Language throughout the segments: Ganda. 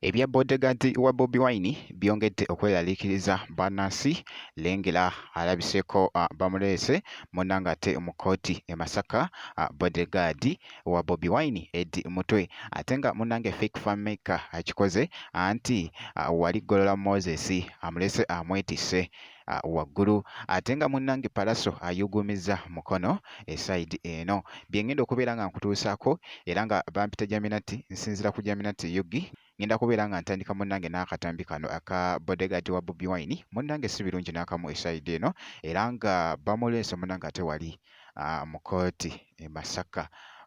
Ebya bodyguard wa Bobi Wine byongedde okweraliikiriza bannansi lengera alabiseeko ah, bamuleese munna ng'ate mu kkooti e Masaka ah, bodyguard wa Bobi Wine Eddy Mutwe ate nga munnange Fake Fammaker akikoze anti ah, wali Golola Moses amulese amwetisse uh, waggulu ate nga munnange palaso ayugumiza mukono esaidi eno byengenda okubeera nga nkutuusaako era nga bampita jaminati nsinzira ku jaminati yugi ngenda kubeera nga ntandika munnange n'akatambi kano aka bodegaad wa bobi wine munnange si birungi n'akamu esaidi eno era nga bamuleese munnange ate wali uh, mu kooti e masaka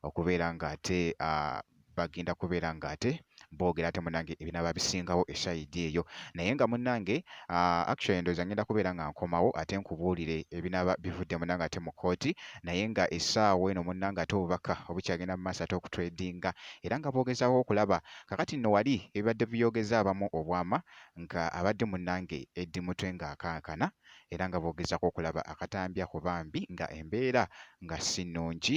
okubeera nga ate uh, bagenda kubeera nga ate boogera ate munange ebinaba bisingawo eshayidi eyo naye nga munange uh, actually ndowooza ngenda kubeera nga nkomawo ate nkubuulire ebinaba bivudde munange ate mu kooti naye nga essaawa eno munange ate obubaka obukyagenda mu maaso ate okutredinga era nga boogezawo okulaba kakati nno wali ebibadde biyogeza abamu obwama nga abadde munange eddi mutwe ng'akankana era nga boogezako okulaba akatambi ako bambi nga embeera nga si nnungi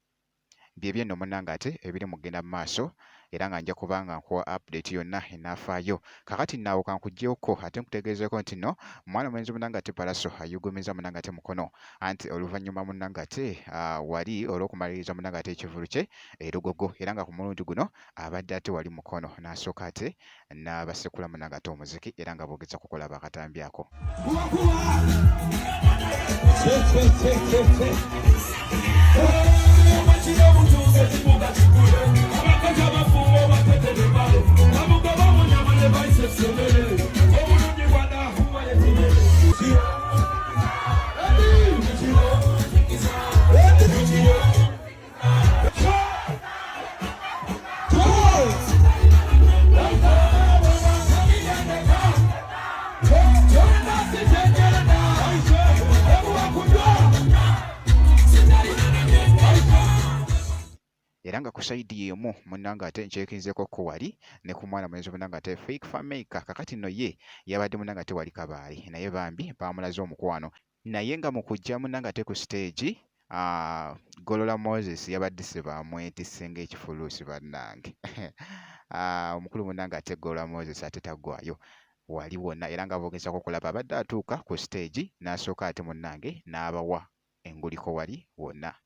byebyo nno munange ate ebiri mu kugenda mu maaso era nga nja kuba nga nkuwa update yonna enaafaayo kakati naawo kankuggyewokko ate nkutegeezeeko nti no mwana mulenzi munange ate palaso ayugumiza munange ate mukono anti oluvannyuma munange ate ah, wali olw'okumaliriza munange ate ekivulu kye erugogo era nga ku mulundi guno abadde ate wali mukono n'asooka ate n'abasekulamu n'agatta omuziki era nga boogeza kukola bakatambi ako era nga ku sayidi y'emu munnange ate nkyekinzeeko ko wali ne ku mwana mulenzi munnange ate fake fameica kakati no ye yabadde munnange ate wali kabaali naye bambi baamulaze omukwano Naye nga mu kujja munangate ku siteegi ah, Golola Moses yabaddise bamwetisse ng'ekifuluusi bannange. Ah, omukulu munange ate Golola Moses ate tagwayo wali wonna era nga boogezaako okulaba abadde atuuka ku siteegi n'asooka ate munnange n'abawa enguliko wali wonna.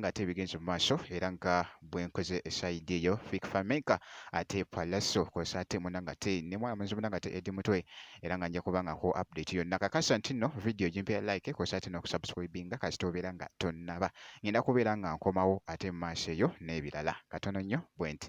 nga ate ebigenze mu maaso era nga bwenkoze esaidi eyo fik famenka ate palaso kosa ate muna nga ate ne mwana munzi muna nga ate edi mutwe era nga nja kuba nga nkuwa update yonna kakasa nti nno vidiyo gimpera like kosa ate n'okusubscribinga kasita obeera nga tonnaba ngenda kubeera nga nkomawo ate mu maaso eyo n'ebirala katono nnyo bwenti